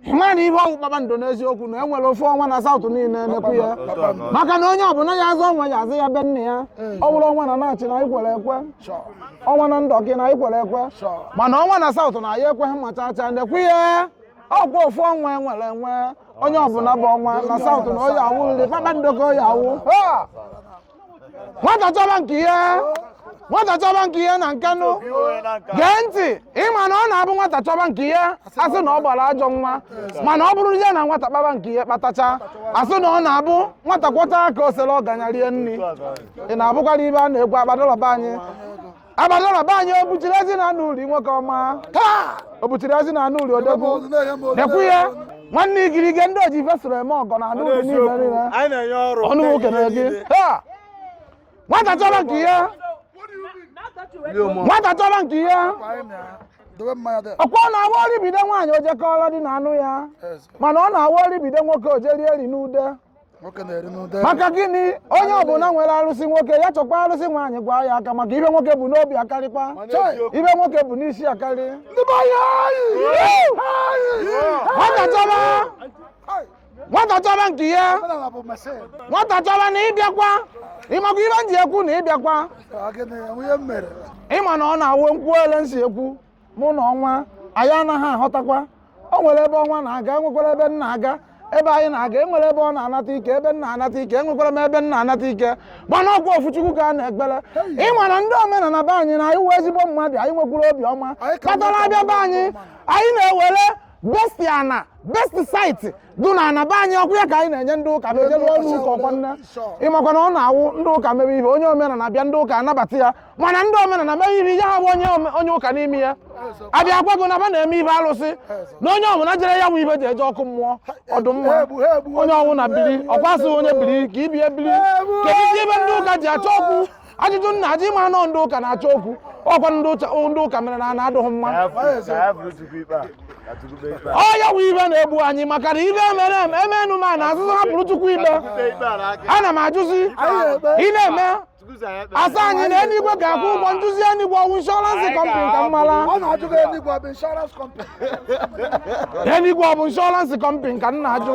ị mara na ihe ọ wụ kpakpando n'eziokwu na enwere ofu ọnwa na South niile na-ekwu ya maka na onye ọbụla ya aza ọnwa ya aza ya be nna ya ọ bụrụ ọnwa na Nachi na anyị kwere ekwe ọnwa na Ndoki na anyị kwere ekwe mana ọnwa na South na anyị ekweghị ma chaa chaa na-ekwu ya ọkwa ofu ọnwa enwere enwe onye ọbụla bụ ọnwa na South na ọ ya-awụrịrị kpakpando ka ọ ya-awụ nwata chọba nke ya nwata chọba nke ya na Nkanụ gee ntị ịma na ọ na-abụ nwata chọba nke ya asị na ọ gbara ajọ nwa mana ọ bụrụ ya na nwata kpaba nke ya kpatacha asị na ọ na-abụ nwata kwọchaa aka o soro ọganya rie nri ị na-abụkwara ibe a na-ekwu agbadala be anyị agbadala be anyị obuchiri ezi na-anụ uri nwoke ọma taa obuchiri ezi na-anụ uri odogwu na-ekwu ya nwanne igirige ndị oji ife soro eme ọgọ na-anụ uri niile niile anyị na-enye ọrụ ọnụ nwoke na gị taa nwata chọba nke ya nwata chọba nke ya dobe mmanya dị ọkwa ọ na-awụ ọrịa bido nwaanyị o je kọọrọ di na-anụ ya mana ọ na-awụ ọrịa bido nwoke o je rie eri n'ude maka gịnị onye ọbụla nwere arụsị nwoke ya chọkwa arụsị nwaanyị gwa ya aka maka ihe nwoke bu n'obi akarịkwa ihe nwoke bu n'isi akarị nwata chọba nke ya nwata chọba na ịbịakwa ịmakwa ihe m ji ekwu na ịbịakwa ịma na ọ na-awụ m kwue ele m si ekwu mụ na ọnwa anyị anaghị aghọtakwa o nwere ebe ọnwa na-aga enwekwara ebe m na-aga ebe anyị na-aga enwere ebe ọ na-anata ike ebe m na-anata ike enwekwara m ebe m na-anata ike mana ọkwa ofu chukwu ka a na-ekpere ịma na ndị omenala be anyị na anyị wụ ezigbo mmadụ anyị nwekwara obiọma kpatara a bịa be anyị anyị na-ewere best ana best site dụ na ana be anyị ọkwa ya ka anyị na-enye ndị ụka ma e je lụọ ụnọ ụka ọkwa nne ịmakwa na ọ na-awụ ndị ụka mebe ihe onye omenala bịa ndị ụka anabata ya mana ndị omenala mebe ihe ya ha bụ onye ome- onye ụka n'ime ya abịa gwa gụ na ba na-eme ihe alụsị na onye ọbụla jere ya bụ ihe ji eje ọkụ mmụọ ọ dụ mma onye ọwụna biri ọkwa asị onye biri ka ibe ya biri kedu ihe ndị ụka ji achọ okwu ajụjụ m na-ajụ ịma na ọ ndị ụka na-achọ okwu ọkwa ndị ụcha- ndị ụka mere na ana adụghị mma ọ ya wụ ihe na-egbu anyị maka na ihe mere eme emenụ ma na asịzi hapụrụ chukwu ikpe ana m ajụzi ị na-eme asị anyị na eluigwe ga-akwụ ụgwọ m jụzi eluigwe ọ wụ insurance company ka m mara ọ na-ajụ gị eluigwe ọ bụ insurance company eluigwe ọ bụ insurance company ka m na-ajụ